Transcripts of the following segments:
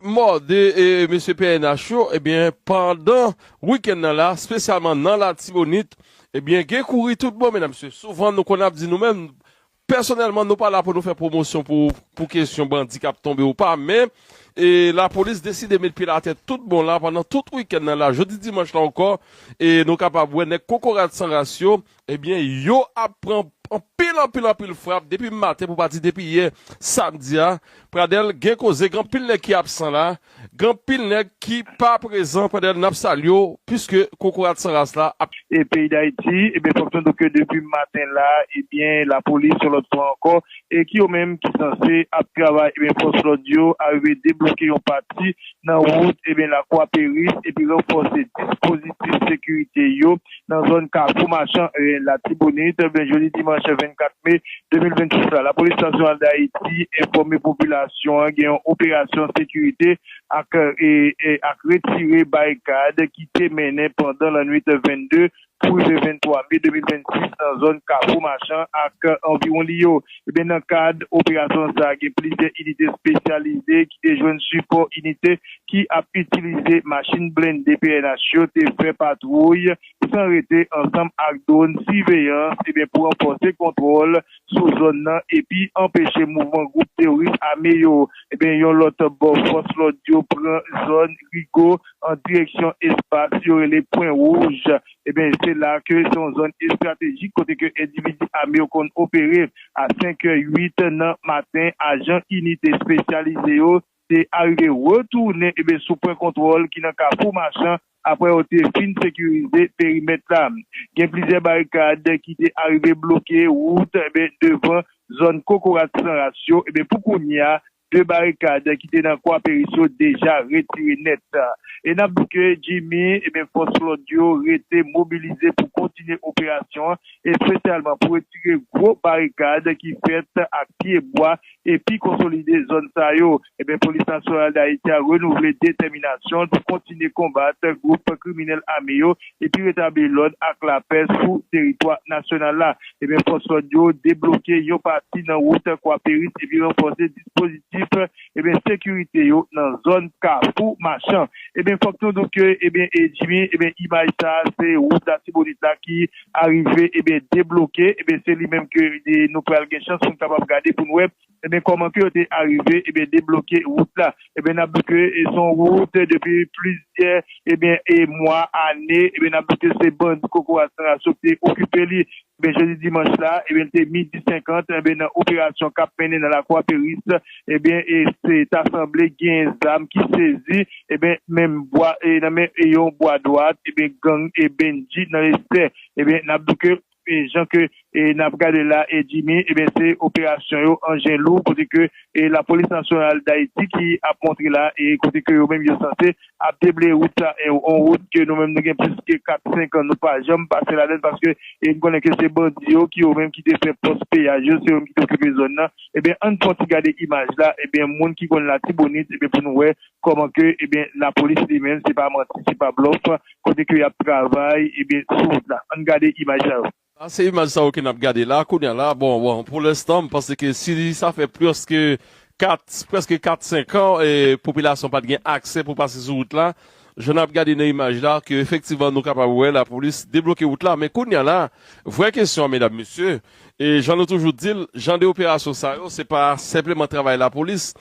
Mòde mesye pnh yo ebyen pandan wikenn nan la spesyalman nan latibonit ebyen gen kouri tout bon medam mesye souvan nou konn ap di nou menm pèsonèlman nou pa la pou nou fè pwomosyon pou kesyon bandi kap tonbe ou pa men lapolis deside met pyel atè tout bon la pandan tout wikenn nan la jodi dimanch la ankò nou kapab wè nèg kokorat san ras yo Ebyen yo ap pran anpil anpil anpil frap depi maten pou pa di depi yè samdi a Pradel gen koze gen anpil nèg ki absan la gen anpil nèg ki pa prezan Pradel nap salye w puiske kokorat san ras la ap E peyi dayiti ebyen fòk nou di w ke depi maten la ebyen lapolis yon lòt fwa ankò e ki yo menm ki sanse ap travay ebyen fòs lòd yo arive debloke yon pati nan wout ebyen lakwa peris epi ranfòse dispozitif sekirite yo nan zòn Kafou Machan, Latibonit, jodi dimanch 24 me 2026 la. Lapolis Nasyonal Dayiti enfòme popilasyon an gen yon operasyon sekirite ak ak retire barikad ki te mennen pandan lannwit 22 pou rive 23 me 2026 nan zòn Kafou Machan ak anviwon li yo. Ebyen nan kad operasyon sa a gen plizyè inite espesyalize ki te jwenn sipò inite ki ap itilize machin blende pnh yo te fè patwouy san rete ansanm ak dwòn siveyans ebyen pou ranfòse kontwòl sou zòn nan epi anpeche mouvman gwoup teworis ame yo ebyen yon lòt bò fòs lòd yo pran zòn Rigo an direksyon espas yo rele pwen wouj Ebyen, se la ke se yon zòn estratejik kote ke endividi ame yo konn opere. A senkè uit nan maten, ajan inite espesyalize yo te arive retounen ebyen sou pwen kontwòl ki nan Kafou Machan apre yo te fin sekirize perimèt la. Gen plizyè barikad ki te arive bloke wout ebyen devan zòn kokorat san ras yo ebyen pou kounye a 2 barikad ki te nan Kwa Peris yo deja retire nèt. E n ap di ke Jimmy, ebyen fòs lòd yo rete mobilize pou kontinye operasyon an, espesyalman pou retire gwo barikad ki fèt ak pye bwa epi konsolide zòn sa yo. Ebyen Polis Nasyonal Dayiti a renouvle detèminasyon l pou kontinye konbat gwoup kriminèl ame yo epi retabli lòd ak lapè sou teritwa nasyonal la. Ebyen fòs lòd yo debloke yon pati nan wout Kwaperis epi ranfòse dispozitif ebyen sekirite yo nan zòn kafou machan. Ebyen fòk nou di w ke ebyen e Jimmy ebyen imaj sa a se wout latibonit la ki arive ebyen debloke ebyen se li menm ke nou pral gen chans pou n kapab gade pou n wè Ebyen kòman ke yo te arive ebyen debloke wout la? Ebyen nap di ke se yon wout depi plizyè ebyen mwa, ane, ebyen nap di ke se bandi kokorat san ras yo ki te okipe li. Ebyen jodi dimanch la ebyen li te midi 50 ebyen nan operasyon kap mennen nan lakwa Peris ebyen se ta sanble gen zam ki sezi ebyen menm bwa nan men yon bwa dwat ebyen gang Bendji nan Estè. Ebyen nap di ke Jan ke n ap gade la Jimmy, ebyen se operasyon yo anjen lou kote ke lapolis nasyonal Dayiti ki ap montre la e kote ke yo menm yo sanse ap debleye wout sa e yon wout ke nou menm nou gen plis ke 4, 5 an nou pa janm pase ladann paske n konnen ke se bandi yo ki yo menm ki te fè pòs peyaj yo, se yo menm ki te okipe zòn nan. Ebyen ann pran yon ti gade imaj la ebyen moun ki konn Latibonit ebyen pou nou wè Kòman ke ebyen lapolis li menm se pa manti se pa blòf kote ke yap travay ebyen sou wout la ann gade imaj sa yo. Sa se imaj sa yo ke nap gade la kounya la bon bon pou lenstan m panse ke si sa fè plis ke 4 prèske 4 5 an popilasyon pat gen aksè pou pase sou wout la jan nap gade nan imaj la ke efektivman nou kapab wè lapolis debloke wout la men kounya la vrè kesyon an medam mesye E jan nou toujou di l, jan de operasyon sa yo, se pa senpleman travay lapolis.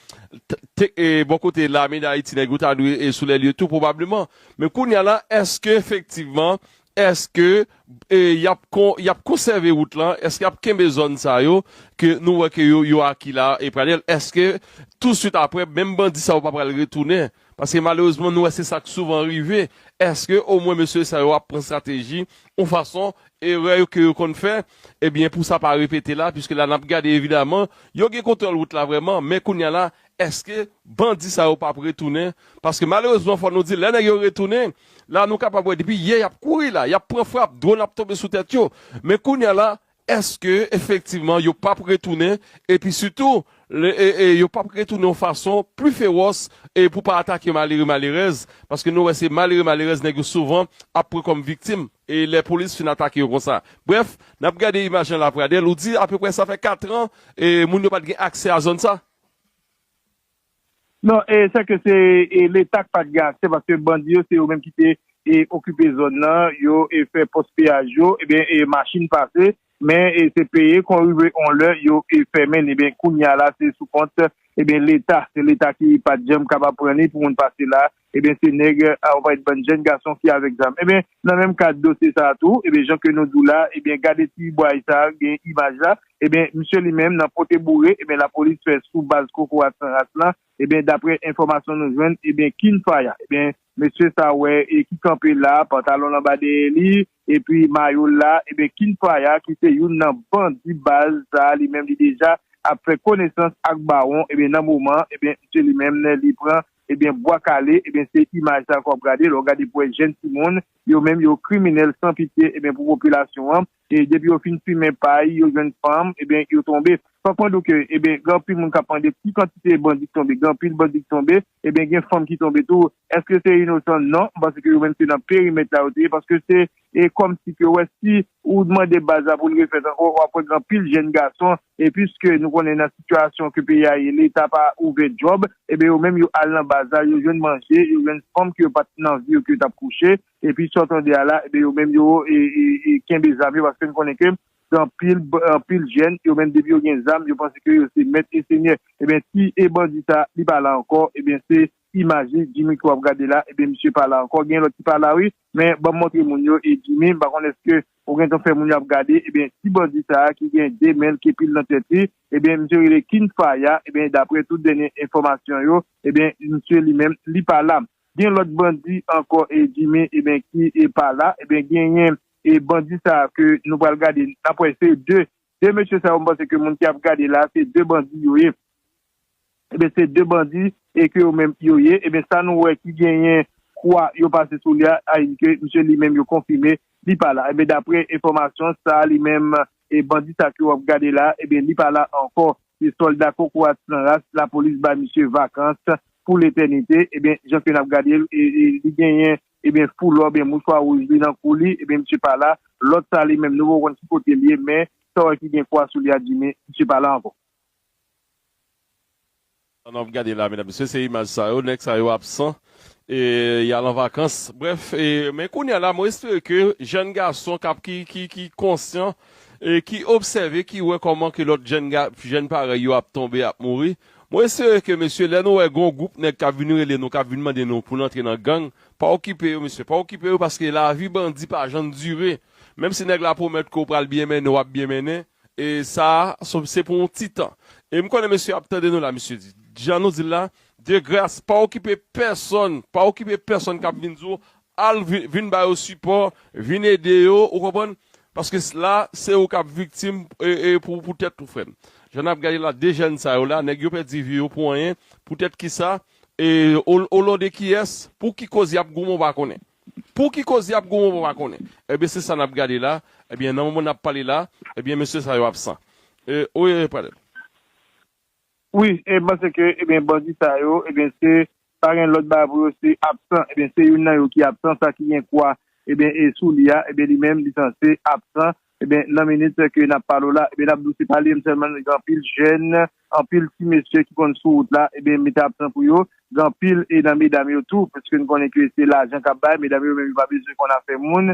Bò kote lame dayiti nèg yo ta dwe sou lè lye tou pwobableman. Men kounya la, èske efektivman, èske y ap konsève wout lan, èske y ap kenbe zòn sa yo ke nou wè ke yo aki la e pradèl, èske touswit apre menm bandi sa yo pa pral retounen Paske malerezman nou wè se sak souvan rive, eske omwen mesye sa yo ap pran strateji yon fason erè yo ke yo konn fè ebyen pou sa pa repete la piske la nap gade evidaman yo gen kontwòl wout la vrèman men kounya la eske bandi sa yo pap retounen paske malerezman fò nou di lè nèg yo retounen la nou kapab wè depi yè yap kouri la yap pran frap dwon ap tonbe sou tèt yo men kounya la Èske efektivman yo pap retounen, epi sitou yo pap retounen yon fason pli fewòs pou pa atake malere malerèz, paske nou wè se malere malerèz nèg yo souvan ap pran kòm viktim lè polis fin atake yo konsa. Brèf, n ap gade imaj lan la Pradel, ou di apeprè sa fè katran moun yo pat gen aksè a zòn sa? Non, se ke se leta ki pa t gen aksè paske bandi yo se yo menm ki te okipe zòn nan, yo fè pòs peyaj yo, ebyen machin pase men se peye kon rive on lè yo fèmen li, ebyen kounya la se sou kont leta, se leta ki pa t janm kapab pran li pou moun pase la, Ebyen se nèg a ou pa wè bann jèn gason ki avèk zam ebyen nan menm kad dosye sa tou ebyen jan ke nou di w la ebyen gade ti bway sa gen imaj la ebyen misye li menm nan pote boure ebyen lapolis fè sou baz kokorat san ras lan ebyen daprè enfòmasyon nou jwenn ebyen king fire ebyen mesye sa wè e ki kanpe la pantalon l anba dèyè li epi mayo l la ebyen king fire ki se youn nan bandi baz sa li menm li deja ap fè konesans ak bawon ebyen nan moman ebyen misye li menm li pran. Ebyen bwa kale ebyen se imaj sa ke wap gade lè w gade pou wè jèn timoun yo menm yo kriminèl san pitye ebyen pou popilasyon an e depi yo fin fimen pay yo jwenn fanm ebyen yo tonbe fòk mwen di w ke ebyen gen anpil moun kap mande ki kantite bandi ki tonbe gen anpil bandi ki tonbe ebyen gen fanm ki tonbe tou èske se inosan non m panse ke yo menm se nan perimèt la yo te ye paske se e kòm si ke wè si ou dmande baz la pou l refèt ankò wap wè gen anpil jenn gason e piske nou konnen nan sitiyasyon ke peyi a ye leta pa ouvè djòb eben yo menm yo al nan baz la yo jwenn manje yo jwenn fanm ke yo pat nan vi yo ke yo tap kouche epi sa w tande a la eben yo menm yo kenbe zam yo paske nou konnen ke gen anpil anpil jenn yo menm depi yo gen zam yo panse ke yo se mèt e senyè eben si e bandi sa li pa la ankò eben se Imaje Jimmy ke wap gade la ebyen misye pa la ankò gen lòt ki pa la wi men banm montre moun yo e Jimmy m pa konn eske ou gentan fè moun yo ap gade ebyen ti bandi sa ki gen 2 menl kepil nan tèt li ebyen misye rele King Fire ebyen daprè tout dènye enfòmasyon yo ebyen misye li menm li pa la gen lòt bandi ankò e Jimmy ebyen ki pa la ebyen genyen e bandi sa ke nou pral gade nap wè se 2 De mesye sa yo m panse ke moun ki ap gade la se de bandi yo ye ebyen se de bandi e ke yo menm yo ye ebyen sa nou wè ki genyen kwa yo pase sou li a a endike misye li menm yo konfime li pa la ebyen dapre enfòmasyon sa li menm e bandi sa ke wap gade la ebyen li pa la ankò se sòlda kokorat san ras lapolis bay misye vakans pou letènite ebyen jan ke nap gade l e li genyen Ebyen pou lò byen mouchwa wouj li nan kou li ebyen misye pa la, lòt sa li menm nou poko konn ki kote l ye men sa w wè ki gen kwa sou li a di men misye pa la ankò. Sa nou ap gade la medam mesye se imaj sa yo nèg sa yo absan e y al an vakans brèf e men kounya la mwen espere ke jèn gason k ap ki ki konsyan e ki obsève ki wè kòman ke lòt jèn ga jèn parèy yo ap tonbe ap mouri Mwen espere ke mesye lè nou wè gon gwoup nèg kap vin rele nou kap vin mande nou poun antre nan gang pa okipe yo mesye pa okipe yo paske lavi bandi pa jann dire menm si nèg la pwomèt ke ou pral byen mennen wap byen mennen e sa se pou yon ti tan e m konnen mesye ap tande nou la mesye di jan nou dil la de gras pa okipe pèsòn pa okipe pèsòn kap vin di w Al vin ba yo sipò, vin ede yo, ou konprann, paske la se ou kap viktim pou tèt ou frèm. Jan nap gade la 2 jèn sa yo la, nèg yo pèdi vi yo pou anyen, pou tèt kisa, o non de kiyès, pou ki koz yap goumen ou pa konnen. Pou ki koz yap goumen ou pa konnen. Ebyen se sa nap gade la, ebyen nan moman nap pale la, ebyen mesye sa yo absan. Oye Pradel. Wi e panse ke ebyen bandi sa yo ebyen se pa gen lòt bagay pou yo se absan ebyen se youn nan yo ki absan sa ki gen kwa ebyen e sou li a ebyen li menm li sanse absan ebyen nan minit ke nap pale w la ebyen nap di w se pa li menm sèlman gen anpil jèn anpil ti mesye ki konn sou wout la ebyen mete absan pou yo gen anpil e nan medam yo tou paske nou konnen ke se lajan kap bay medam yo menm yo pa bezwen konn afè moun.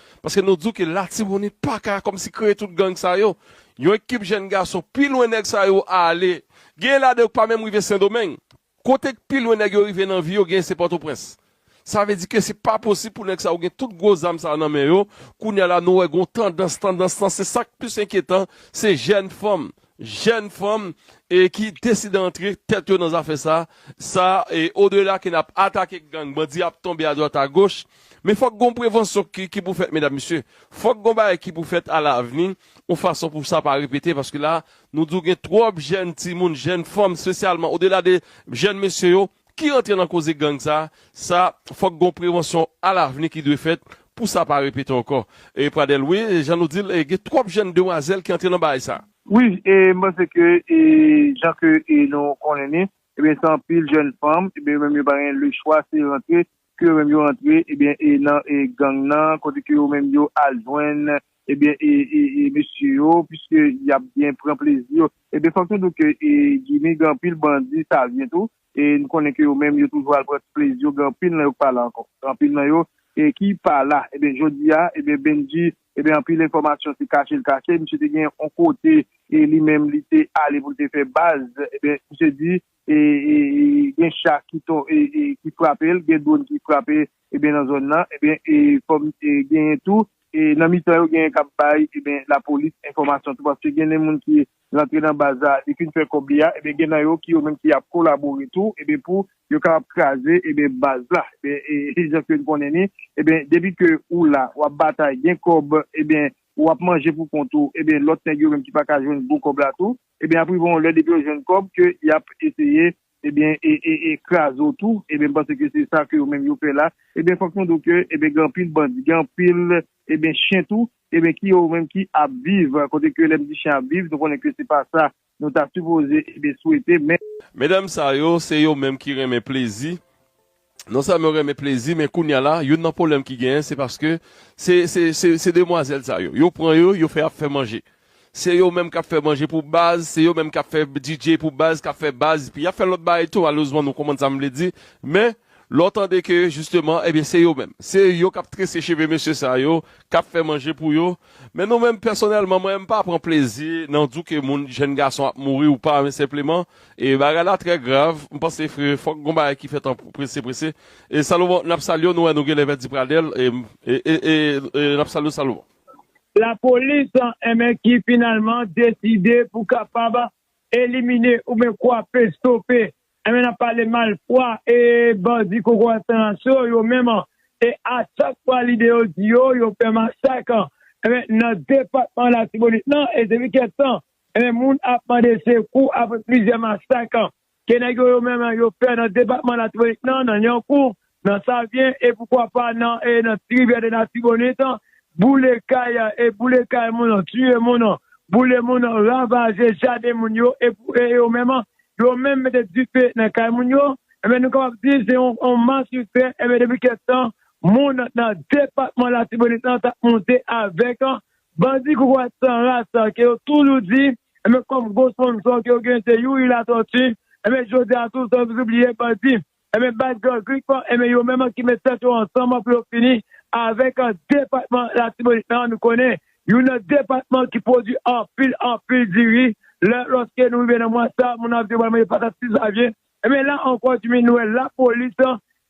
Paske nou diw ke latibonit paka kòmsi kreye tout gang sa yo. Yon ekip jèn gason pi lwen nèg sa yo ale. Genyen ladan yo ki pa menm rive sendomeng. Kote ki pi lwen nèg yo rive nan vi yo genyen se pòtoprens. Sa vle di ke se pa posib pou nèg sa yo gen tout gwo zam sa nan men yo. Kounya la nou wè gon tandans, tandans lan se sak plis enkyetan se jèn fanm. jèn fanm ki deside antre tèt yo nan zafè sa, sa o dela ke nap atake gang, bandi ap tonbe a dwat a goch, men fòk gon prevansyon ki pou fèt medam mesye, fòk gon bagay ki pou fèt a lavni yon fason pou sa pa repete paske la nou di w gen twòp jèn timoun, jèn fanm spesyalman o dela de jèn mesye yo, ki rantre nan koze gang sa, sa fòk gon prevansyon alavni ki dwe fèt pou sa pa repete ankò. E Pradel, wi, jan nou di l, gen twòp jèn demwazèl ki antre nan baay sa. Wi, e m panse ke e jan ke e nou konnen li, ebyen se anpil jèn fanm, ebyen yo menm yo pa gen lechwa se rantre ke yo menm yo antre ebyen e nan e gang nan kote ke yo menm yo al jwenn ebyen e e mesye yo piske yap byen pran plezi yo ebyen fòk nou di w ke e Jimmy gen anpil bandi savyen tou e n konnen ke yo menm yo toujou al pran ti plezi yo gen anpil nan yo k pa la ankò gen anpil nan yo e ki pa la ebyen jodi a ebyen Bendji ebyen anpil enfòmasyon se kache l kache misye te gen on kote e li menm li te ale pou l te fè baz ebyen misye di. gen cha ki frape l, gen dwòn ki frape nan zòn nan, fòk genyen tou, nan mitan yo genyen k ap bay lapolis enfòmasyon tou paske gen de moun ki rantre nan baz la, li fin fè kòb li a, gen nan yo ki yo menm ki ap kolabore tou pou yo kapab kraze baz la. Se jan ke n konnen ni, depi ke ou la, w ap batay, gen kòb, ou ap manje pou kont ou, lòt nèg yo menm ki pa ka jwenn gwo kòb la tou, Ebyen ap rive yon lè depi yo jwenn kòb ke yap eseye ebyen kraze w tou ebyen m panse ke se sa ke yo menm yo fè la ebyen fòk nou di w ke ebyen gen anpil bandi gen anpil ebyen chen tou ebyen ki yo menm ki ap viv kote ke lèm di chen ap viv nou konnen ke se pa sa nou ta sipoze ebyen swete men. Medam sa yo se yo menm ki renmen plezi Non sèlman yo renmen plezi men kounya la youn nan pwoblèm ki genyen se paske se se se se demwazèl sa yo yo pran yo yo fè ap fè manje se yo menm kap fè manje pou baz se yo menm kap fè DJ pou baz kap fè baz epi yap fè lòt bagay tou malerezman nou konprann sam vle di men lè w tande ke jisteman ebyen se yo menm se yo kap trese cheve mesye sa yo kap fè manje pou yo men nou menm pèsonèlman mwen menm m pa pran plezi nan di w ke moun jèn gason ap mouri ou pa men senpleman E bagay la trè grav, m panse fòk gon bagay ki fèt an prese prese. E Salomon nap salyew nou wè nou genlè pèdi Pradel e nap salyew Salomon. La polis enben ki finalman deside pou kapab elimine oubyen kwape, stope enben nap pale malfwa e bandi kokorat san aso yo menm e a chak fwa lide yo di yo yo fè masak enben nan depatman latibonit lan e depi kèk tan Enben moun ap mande sekou apre plizyè masak ke nèg yo yo menm yo fè nan depatman Latibonit nan, nan Lyankou, nan Savyen e poukwa pa nan Ti Rivyè de Latibonit, boule kay e boule kay moun, tiye moun, boule moun, ravaje jaden moun yo e yo menm yo menm mete dife nan kay moun yo. Enben nou kapab di se yon mas yo fè enben depi kèk tan moun nan depatman Latibonit nan tap monte avèk Bandi kokorat san ras ke yo toujou di, enben kòm gwo sponsor ke yo gen se Youri Latortue, enben jodi a tou san nou bliye bandi, enben baz gang Grip, enben yo menm ki met tèt yo ansanm pou yo fini avèk depatman Latibonit lan, nou konnen youn nan depatman ki pwodwi anpil anpil diri, lè lòske nou rive nan mwa sa moun ap di yo pral manje patat 6 Janvye, Enben la ankò Diminwèl lapolis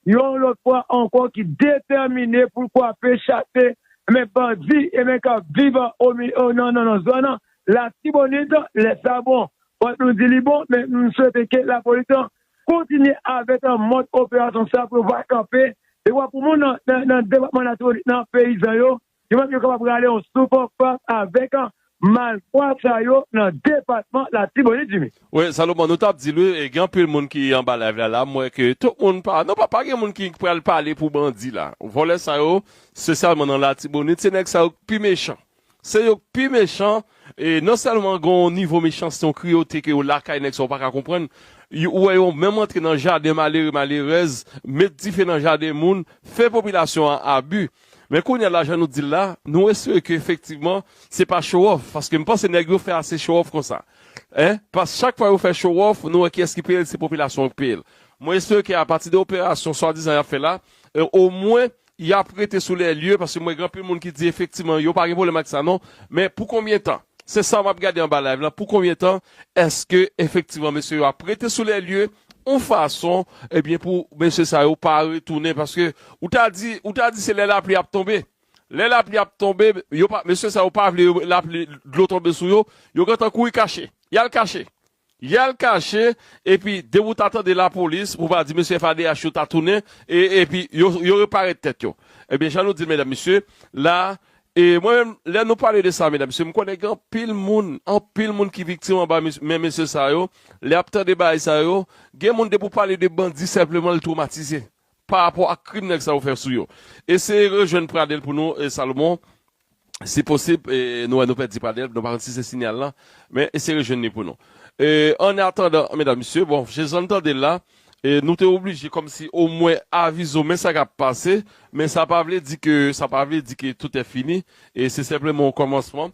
yon lòt fwa ankò ki detèmine pou l kwape, chase enben bandi enben k ap viv nan zòn Latibonit. Lè sa bon, fòk nou di li bon men m swete ke lapolis kontinye avèk mòd operasyon sa pou yo va kanpe dekwa pou moun nan depatman Latibonit nan peyizan yo Yo menm yo kapab rale yon souf fas avèk malfwa sa yo nan depatman Latibonit Jimmy. Wi Salomon nou tap dil wi gen anpil moun ki anba live la la m wè ke tout moun pa non pa gen moun ki pral pale pou bandi la vòlè sa yo spesyalman nan latibonit se nèg sa yo k pi mechan se yo k pi mechan e non sèlman gen yon nivo mechanste yon kriyote ke yo lakay nèg sa yo paka konprann ou wè yo menm antre nan jaden malere malerèz met dife nan jaden moun fè popilasyon an abi. Men kounye a la jan nou di l la, nou espere ke efektivman se pa show off, paske m panse nèg yo fè ase show off konsa. Hein, pask chak fwa yo fè show off, nou wè kiyès ki peye l, se popilasyon an k peye l. Mwen espere ke apati de operasyon swadizan y ap fè la, omwen y ap rete sou lè lye, paske m wè gen anpil moun ki di efektivman yo pa gen pwoblèm ak sa non, men pou konbyen tan? Se sa m ap gade anba live la, pou konbyen tan èske efektivman mesye yo ap rete sou lè lye, yon fason ebyen pou mesye sa yo pa retounen paske ou ta di ou ta di se lè lapli ap tonbe lè lapli ap tonbe yo pa mesye sa yo pa vle lapli dlo tonbe sou yo yo gentan kouri kache yal kache yal kache epi depi ou ta tande lapolis pou pa di mesye FADH yo ta tounen e epi yo yo reparèt tèt yo ebyen jan nou dil medam mesye la E mwen menm, lè nou pale de sa medam mesye, m konnen gen anpil moun, anpil moun ki viktim anba men mesye sa yo, lè y ap tande bagay sa yo, gen moun depi w pale de bandi senpleman l twomatize, pa rapò ak krim nèg sa yo fè sou yo. Eseye rejwenn Pradel pou nou Salomon, si posib, nou wè nou pèdi Pradel, nou pa konn si se sinyal la, men eseye rejwenn li pou nou. E ann atandan medam mesye, bon, jan n tande l la, E nou te oblije kòmsi omwen avize w men sa k ap pase, men sa pa vle di ke, sa pa vle di ke tout è fini, e se senpleman yon kòmansman.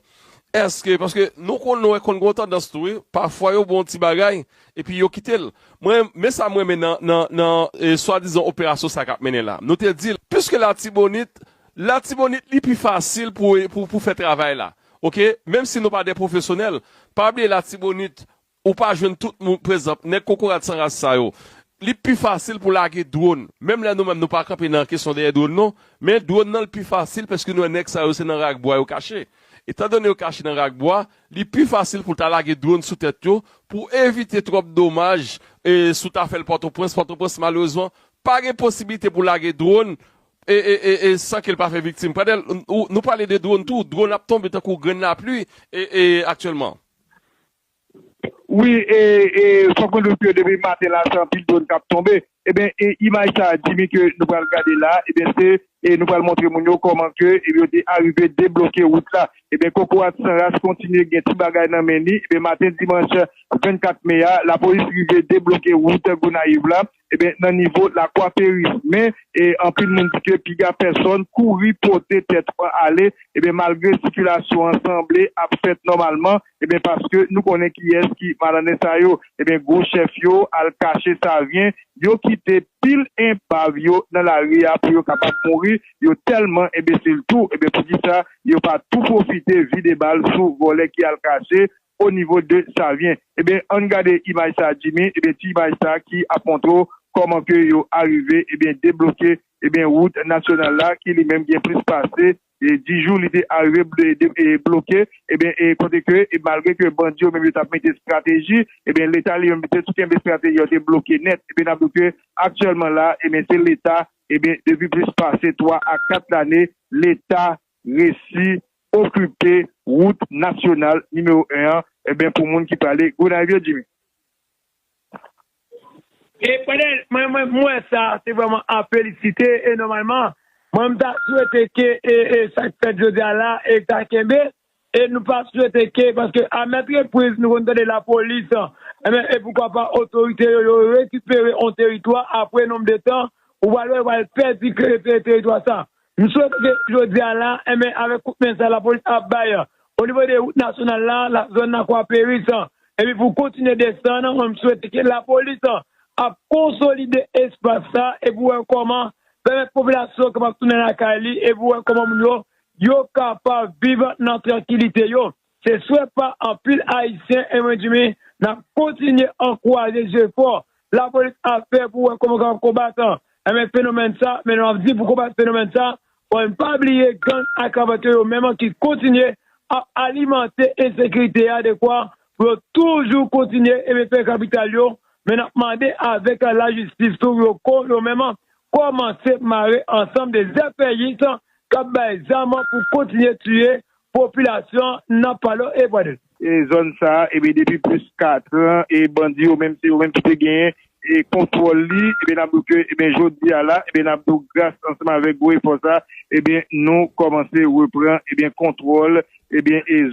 Èske, paske nou konn, nou wè konn gen yon tandans tou wi, pafwa yo bon yon ti bagay, epi yo kite l. Mwen, men sa m renmen nan, nan, nan e swadizan operasyon sa a k ap mennen la. Nou te di l, piske Latibonit, Latibonit li pi fasil pou, pou, pou fè travay la. Oke? Menm si nou pa de pwofesyonèl, pa bliye Latibonit, Ou pa jwenn tout moun, prezanp, nèg kokorat san ras sa yo. Li pi fasil pou lage dwon. Menm lè nou menm nou pa kanpe nan kesyon dèyè dwon non. Men dwon nan li pi fasil pèske nou wè nèg sa yo se nan rak bwa yo kache. Etan done yo kache nan rak bwa, li pi fasil pou ta lage dwon sou tèt yo pou evite twòp domaj e si w ta fè l Pòtoprens, Pòtoprens malerezman pa gen posibilite pou lage dwon e e san ke l pa fè viktim. Pradel, nou pale de dwon tou, dwon ap tonbe tankou grenn lapli e e aktyèlman. Wi e fòk mwen diw ke depi maten la se anpil drone kap tonbe ebyen imaj sa Jimmy ke nou pral gade la ebyen se nou pral montre moun yo kòman ke yo te arive debloke wout la ebyen kokorat san ras kontinye gen ti bagay nan men li ebyen maten dimanch 24 me a lapolis rive debloke wout Gonayiv la Ebyen nan nivo lakwa peris men anpil moun di ke piga pèsòn kouri pote tèt ou an ale ebyen malgre sikilasyon an sanble ap fèt nòmalman ebyen paske nou konnen kiyès ki malandren sa yo ebyen gwo chèf yo al kache savyen yo kite pil enpav yo nan lari a pou yo kapab mouri yo tèlman enbesil tou ebyen poukisa yo pa tou pwofite vide bal sou vòlè ki al kache au niveau de Savien ebyen ann gade imaj sa Jimmy ebyen ti imaj sa ki ap montre w kòman ke yo arive ebyen debloke ebyen wout nasyonal la ki li menm gen plis pase 10 jou li te arive bloke ebyen kote ke malgre ke bandi yo menm yo tap mete strateji ebyen leta li menm li te tou kenbe strateji yo te bloke nèt ebyen nap di w ke aktyèlman la ebyen se leta ebyen depi plis pase 3 a 4 lane leta resi okipe wout nasyonal nimewo 1 an enben pou moun ki pale Gonayiv yo Jimmy. E pandan mwen menm m wè sa se vrèman a felisite e nòmalman mwen m ta swete ke sa k fèt jodi a la e ta kenbe E nou pa swete ke, paske a mèt repriz nou konn tande lapolis, enben e poukwa pa otorite yo, yo rekipere on teritwa apre nonb de tan, ou pral wè yo pral pèdi teritwa sa. M swete ke jodi a la, enben avèk kout men sa lapolis ap bay o nivo de wout nasyonal la, la zòn nan kwa peris, epi pou kontinye desann, mwen m swete ke lapolis ap konsolide espas sa e pou wè kòman pèmèt popilasyon kapab tounen lakay li e pou wè kòman moun yo yo kapab viv nan trankilite yo. Se swè pa anpil Ayisyen e mwen di mi n ap kontinye ankouraje jefò lapolis ap fè pou wè kòman yo kapab konbat enben fenomèn sa men nou ap di pou konbat fenomèn sa fò n pa bliye gang ak kravat yo yo menm ki kontinye ap alimante ensekirite a dekwa pou yo toujou kontinye enben fè kapital yo men n ap mande avèk lajistis tou pou yo menm kòmanse mare ansanm de zèpèyis kap bay zam pou kontinye tiye popilasyon nan Palo e Pwadèt. Zòn sa a depi plis 4 tran e bandi yo menm se yo menm ki te genyen kontwòl li e nap di w ke jodi a la nap di w gras ansanm avèk gwo efò sa nou kòmanse repran kontwòl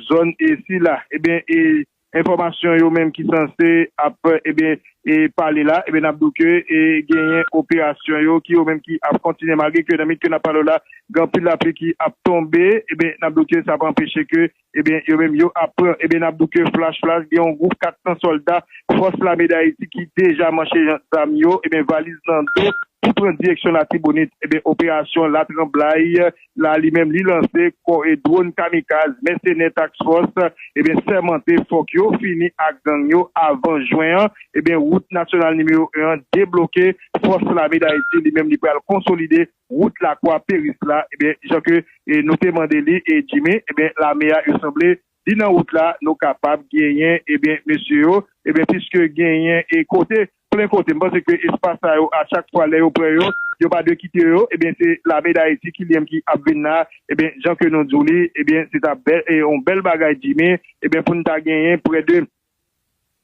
zòn sila. Enfòmasyon yo menm ki sanse ap ebyen pale la ebyen nap di w ke genyen operasyon yo ki yo menm ki ap kontinye malgre ke nan minit ke nap pale w la gen anpil lapli ki ap tonbe ebyen nap di w ke sa pa anpeche ke ebyen yo menm yo ap pran ebyen nap di w ke flash flash gen yon gwoup 400 sòlda fòs lame dayiti ki deja manche zam yo ebyen valiz nan do pou pran direksyon latibonit ebyen operasyon latranblay la li menm li lanse kò e dwon kamikaz mèsenè Task Force ebyen sèmante fòk yo fini ak gang yo avan jwen an ebyen wout nasyonal nimewo 1 an debloke fòs lame dayiti li menm li pral konsolide wout lakwa peris la ebyen jan ke nou te mande li e Jimmy ebyen lame a yo sanble Li nan wout la nou kapab genyen ebyen mesye yo ebyen piske genyen e kote plen kote m panse ke espas sa yo a chak fwa lè yo pran yo yo pa dwe kite yo ebyen se lame dayiti ki liyenm ki ap vin la ebyen jan ke nou di w li ebyen se ta bè e yon bèl bagay djimi ebyen pou n ta genyen prè de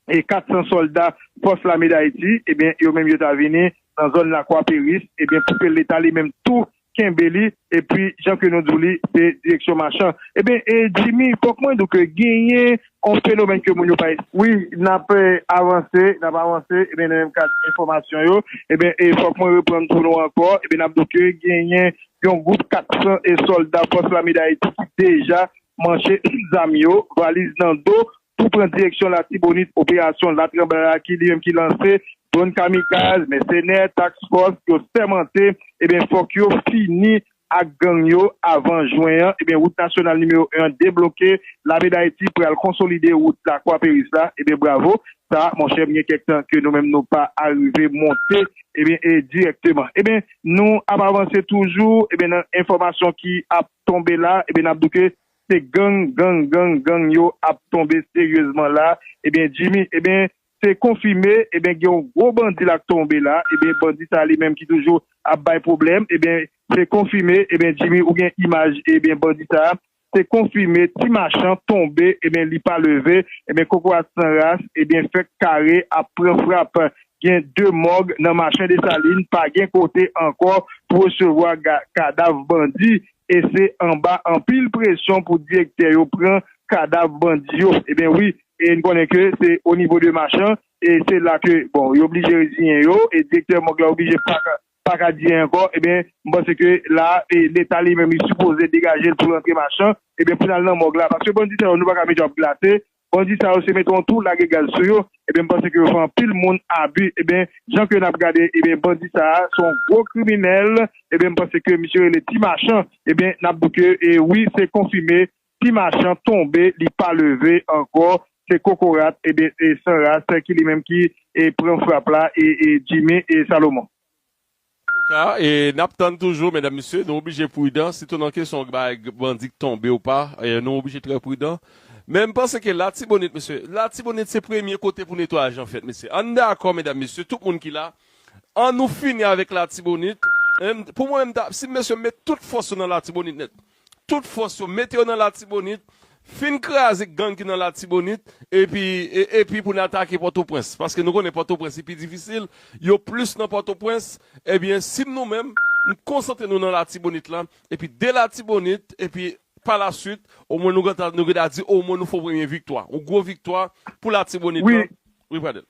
e 400 sòlda Fòs Lame Dayiti, ebyen yo menm yo ta vini nan zòn Lakwa Peris, ebyen pou ke leta li menm tou kenbe li, epi jan ke nou di w li se direksyon Machan. Ebyen Jimmy, fòk mwen di w ke genyen yon fenomèn ke moun yo pa. Wi, n ap avanse, n ap avanse, ebyen nan menm kad enfòmasyon yo, ebyen e fòk mwen reprann pou nou ankò, ebyen n ap di w ke genyen yon gwoup 400 sòlda Fòs Lame Dayiti ki deja manche zam yo, valiz nan do, tou pran direksyon Latibonit operasyon Latranblay a ki li menm ki lanse dwòn kamikaz, mèsenè, task fòs yo sèmante ebyen fòk yo fini ak gang yo avan jwen an ebyen wout nasyonal nimewo 1 an debloke lame dayiti pral konsolide wout la kwaperis la ebyen bravo sa monchè m gen kèk tan ke nou menm nou pa arive monte ebyen e dirèkteman ebyen nou ap avanse toujou ebyen nan enfòmasyon ki ap tonbe la ebyen n ap di w ke Se gang gang gang gang yo ap tonbe seryezman la ebyen Jimmy ebyen se konfime ebyen gen yon gwo bandi la k tonbe la ebyen bandi sa li menm ki toujou ap bay pwoblèm ebyen se konfime ebyen Jimmy ou gen imaj ebyen bandi sa se konfime ti machan tonbe ebyen li pa leve ebyen kokorat san ras ebyen fèk kare ap pran frap gen 2 mòg nan Machen Desalin pa gen kote ankò pou resevwa kadav bandi E se anba anpil presyon pou direktè yo pran kadav bandi yo. Eben wi, e n konnen ke se o nivo de Machan, e se la ke, bon, yo blije reziyen yo, e direktè mòg la oblije pa ka, pa ka di anyen ankò. Eben, m panse ke la, e Leta li menm li sipoze degaje l pou l rantre Machan, eben pou n al nan mòg la. Paske bandi sa yo nou pa ka mete yo ap glase, Bandi sa yo se mete yon tou lage gaz sou yo ebyen m panse ke yo fè anpil moun abi ebyen jan ke nap gade ebyen bandi sa a son gwo kriminèl ebyen m panse ke misye rele ti machan ebyen nap di ke e wi se konfime ti machan tonbe li pa leve ankò se kokorat ebyen e san ras ki li menm ki e pran frap la e e Jimmy e Salomon. Antouka e nap tann toujou medam mesye nou oblije prudan sitou nan kesyon bay bandi k tonbe ou pa nou oblije trè prudan men m panse ke latibonit mesye latibonit se premye kote pou netwayaj lan fèt mesye ann dakò medam mesye tout moun ki la annou fini avèk latibonit pou mwen m ta si m mesye m met tout fòs yo nan latibonit nèt. tout fòs yo mete yo nan latibonit fin kraze gang ki nan latibonit epi epi pou n atake pòtoprens paske nou konnen pòtoprens li pi difisil yo plis nan pòtoprens ebyen si nou menm n konsantre nou nan latibonit la epi de latibonit epi pa la swit omwen nou gentan nou geda di omwen nou fè yon premye viktwa yon gwo viktwa pou latibonit la wi pradel.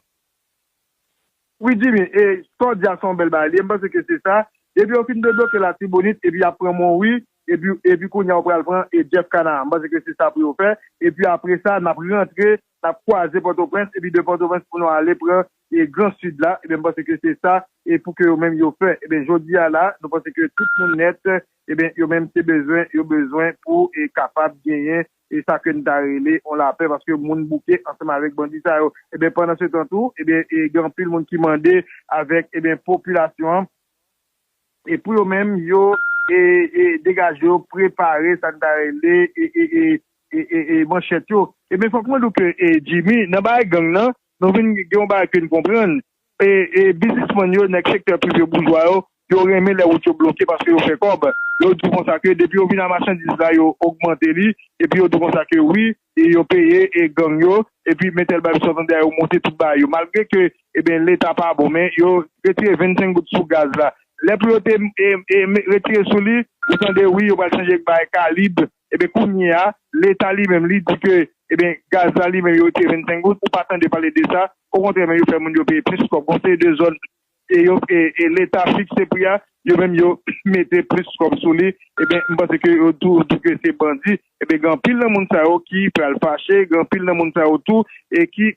Wi Jimmy, e sa w di a se yon bèl bagay li ye, m panse ke se sa, depi yo fin debloke latibonit epi yap pran monwi epi epi kounya yo pral pran e Jeff Canard m panse ke se sa pou yo fè epi apre sa nap rantre nap kwaze pòtoprens epi de pòtoprens pou nou ale pran e gran sid la ebyen m panse ke se sa e pou ke yo menm yo fè ebyen jodi a la nou panse ke tout moun nèt ebyen yo menm se bezwen yo bezwen pou e kapab genyen e sa ke n ta rele yon lapè paske moun bouke ansanm avèk bandi sa yo ebyen pandan se tan tou ebyen gen anpil moun ki mande avèk ebyen popilasyon an e pou yo menm yo e e degaje yo prepare sa n ta rele e e e e e manchèt yo ebyen fòk mwen di w ke e Jimmy nan bagay gang nan nou vin gen yon bagay ke n konprann E biznisman yo, nèg sektè prive boujwa yo, yo renmen lè wout yo bloke paske yo fè kòb. Yo di w konsa ke depi yo vin a machandiz la yo ogmante li epi yo di w konsa ke wi yo peye gang yo epi men tèl bagay sòtande a yo monte tout bagay yo malgre ke eben leta pa bon men yo retire 25 goud sou gaz la lè pou yo te retire sou li ou tande wi yo pral chanje bagay kalib Eben kounye a leta li menm li di ke eben gaz la li menm yo retire 25 goud ou pa tande pale de sa okontrè menm yo fè moun yo peye plis kòb gon seri de zòn e yo e leta fikse pri a yo menm yo mete plis kòb sou li eben m panse ke yo tou di ke se bandi eben gen anpil nan moun sa yo ki pral fache gen anpil nan moun sa yo tou e ki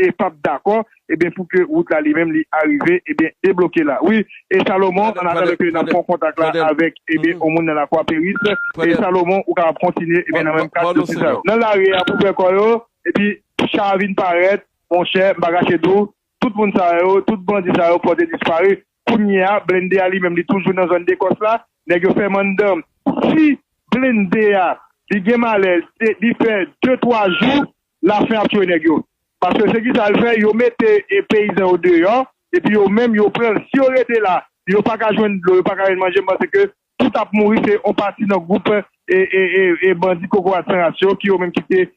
e pap dakò Ebyen pou ke wout la li menm li arive ebyen debloke la wi e Salomon an atandan ke nap pran kontak la avèk ebyen on moun nan lakwa peris e Salomon ou kapab kontinye ebyen nan menm kad dosye sa yo nan lari a pou fè kò yo epi cha a vin parèt monchè m pa kache di w tout moun sa yo tout bandi sa yo pòte disparu kounye a blende a li menm li toujou nan zòn dekòs la nèg yo fèm anndan si blende a li gen malè li fè de twa jou La fin ap tue neg yo. Paske se kisa yo fe yo mete peyizan yo deyo epi yo menm yo pranl si yo rete la yo paka jwenn dlo yo paka jwenn manje m panse ke tout ap mouri se on pati nan group e bandi kokorat san ras yo ki yo menm kite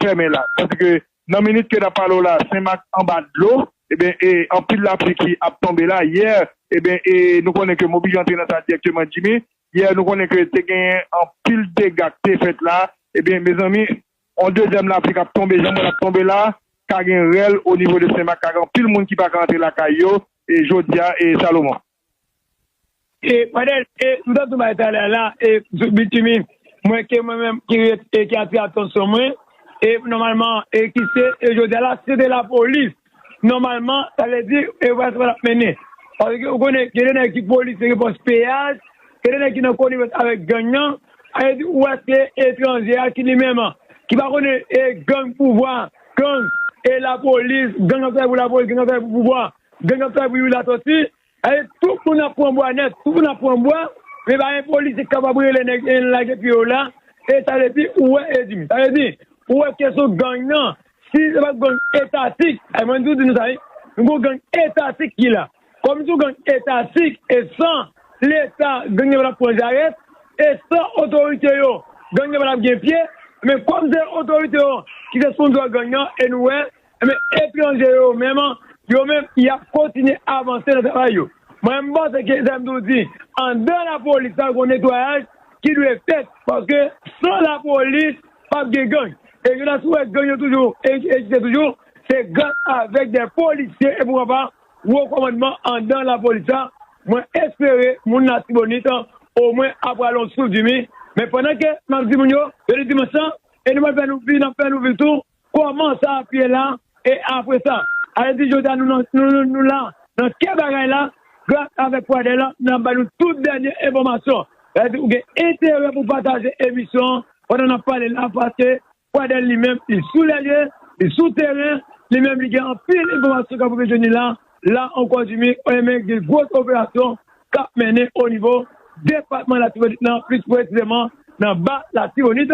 femen la tandi ke nan minit ke nap pale w la senmak anba dlo eben e anpil la pli ki ap tonbe la yè eben e nou konnen ke m oblije antre nan sa direkteman Jimmy yè nou konnen ke te genyen anpil dega k te fet la eben mezanmi On dezyèm lapli kap tonbe jan m wè lap tonbe la ka gen rèl o nivo de Senmak ka gen anpil moun ki paka antre lakay yo e jodia e Salomon. E Fadel e m tap di w bay talè a la e sou bitimi m wè ke mwen menm ki ret e ki atire atansyon mwen e nòmalman e ki se e jodia la se te lapolis Nòmalman, sa vle di yo pa sispann ap mennen. Paske ou konnen gen de nèg ki polis yo gen pòs peyaj, gen de nèg ki nan konivans avèk gang nan. Sa vle di ou wè se etranje a ki li menm an, ki pa konnen e gang pouvwa, gang e lapolis, gang k ap travay pou lapolis, gang k ap travay pou pouvwa, gang k ap travay pou Youri Latòti, Ae tout moun ap pran bwa nèt, tout moun ap pran bwa, men pa gen polisye ki kapab rele nèg en lage pye yo la, e sa vle di ou wè Edimi, sa vle di ou wè kesyon gang nan, si se pat gang etatik, ae mwen toujou di nou sa wi, nou gon gang etatik ki la, kòm se yon gang etatik e san leta gang nan pa tap pran jarèt, e san otorite yo gang nan pa tap gen pye, men kòm se otorite yo ki se sponzò gang nan e nou wè Enben, etranje yo menm, yo menm, y ap kontinye avanse nan travay yo. Mwen menm, m panse ke, sa m toujou di, anndan lapolis la, gon netwayaj ki dwe fèt, paske san lapolis, p ap gen gang. E nou ta sou wè gang yo toujou egziste toujou, se gras avèk dè polisye e poukwa pa, wo kòmandman anndan lapolis la. Mwen espere moun Latibonit, omwen, ap rale yon souf dimi. Men pandan ke m ap di moun yo, jodi dimanch lan, e nou pral fè nou vi, n ap fè nou vi tou, Koman sa ap ye la e apre sa? Alè di jodi a nou nan nou la nan kè bagay la gras avèk Pradè la nap bay nou tout dènye enfòmasyon. Sa vle di ou gen enterè pou pataje emisyon an pandan nap pale la paske Pradè li menm li sou lè lye, li sou teren, li menm li gen anpil enfòmasyon kap rive jwenn li la, la ankò Jimmy Oyenmen gen gwos operasyon kap mennen onivo depatman Latibonit lan plis presizeman nan ba Latibonit.